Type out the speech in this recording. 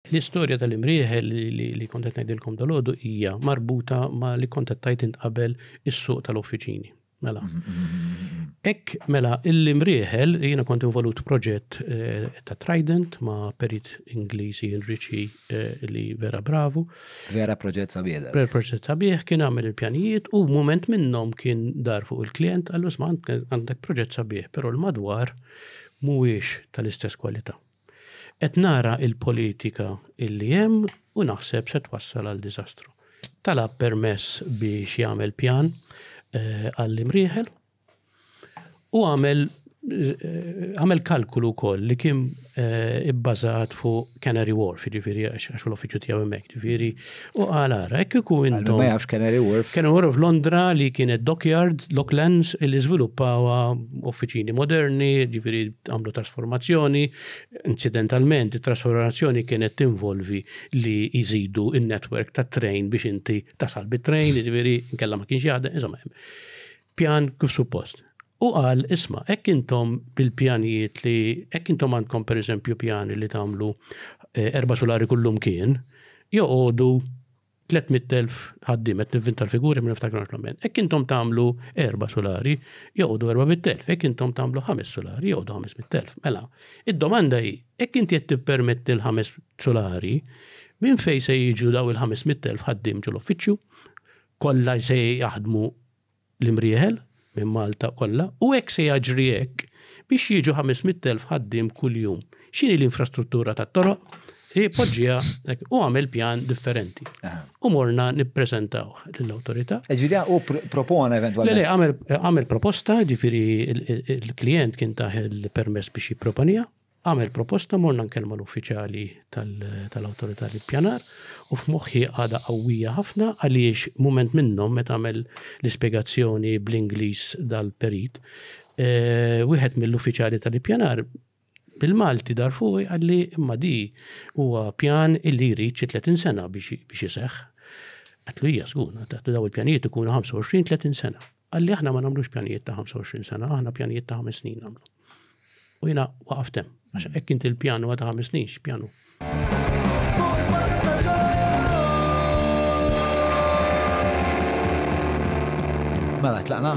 L-istorja tal-imrieħel li kont qed ngħidilkom dalodu hija marbuta ma' li kont qed tajt int qabel is-suq tal-offiċini. Mela. Ek, mela, l-imrieħel, jiena kont involut proġett eh, ta' Trident ma' perit Ingliżi Enrici eh, li vera bravu. Vera proġett sabiħ. Per proġett sabiħ kien għamel il-pjanijiet u moment minnom kien dar fuq il-klient għallu sma għandek proġett sabiħ, pero l-madwar mhuwiex tal-istess kwalità. Qed nara il-politika illi hemm u naħseb se twassal għal diżastru. Talab permess biex jagħmel pjan għall-imrieħel u għamel għamel kalkulu wkoll li kien ibbażat fuq Canary Wharf, jiġifieri għax l-uffiċċju tiegħu hemmhekk, jiġifieri U għal ara, hekk kieku intom. Ma jafx Canary Wharf. Canary Wharf Londra li kienet Dockyard, Locklands, li żviluppawa uffiċini moderni, ġifieri għamlu trasformazzjoni. Incidentalment, it-trasformazzjoni kienet tinvolvi li jżidu in-netwerk ta' train biex inti tasal bit-train, ġifieri nkella ma kienx jaħdem, insomma. Pjan kif suppost. Hu qal, Isma', hekk intom bil-pjanijiet li, hekk intom għandkom pereżempju pjani li tagħmlu erba' sulari kullimkien, joqogħdu tliet mitt elf ħaddiem, qed nivvinta l-figuri ma niftakarhomx l-amment, hekk intom tagħmlu erba' sulari, joqogħdu erba' mitt elf, hekk intom tagħmlu ħames sulari, joqogħdu ħames mitt elf. Mela, id-domanda hi, hekk inti qed tippermetti l-ħames sulari, minn fejn se jiġu daw il-ħames mitt elf ħaddiem ġol-uffiċċju? Kollha se jaħdmu l-imrieħel minn Malta kollha u hekk se jaġri hekk biex jiġu 500,000 ħaddiem kuljum. X'inhi l-infrastruttura tat-toroq? Hi poġġiha u għamel pjan differenti. U morna nippreżentaw lill-awtorità. Ġifieri u propona eventwalment. Le, għamel proposta, ġifieri l-klijent kien taħ il-permess biex jipproponija. Għamel proposta morna nkellmu l-uffiċjali tal-Awtorità l-Ippjanar u f'moħħi għadha qawwija ħafna għaliex mument minnhom meta għamel l-ispjegazzjoni bl-Ingliż dal-perit, wieħed mill-uffiċjali tal-Ippjanar bil-Malti dar fuqi qalli imma di huwa pjan illi jrid xi 30 sena biex iseħħ. Għatlu hija żgur, daw il-pjanijiet ikunu 25-30 sena. Għalli aħna ma nagħmlux pjanijiet ta' 25 sena, aħna pjanijiet ta' 5 snin nagħmlu. U jiena waqaftem, għax hekk inti l-pjanu għadha 5 snin, x'pjanu? Mela, tlaqna?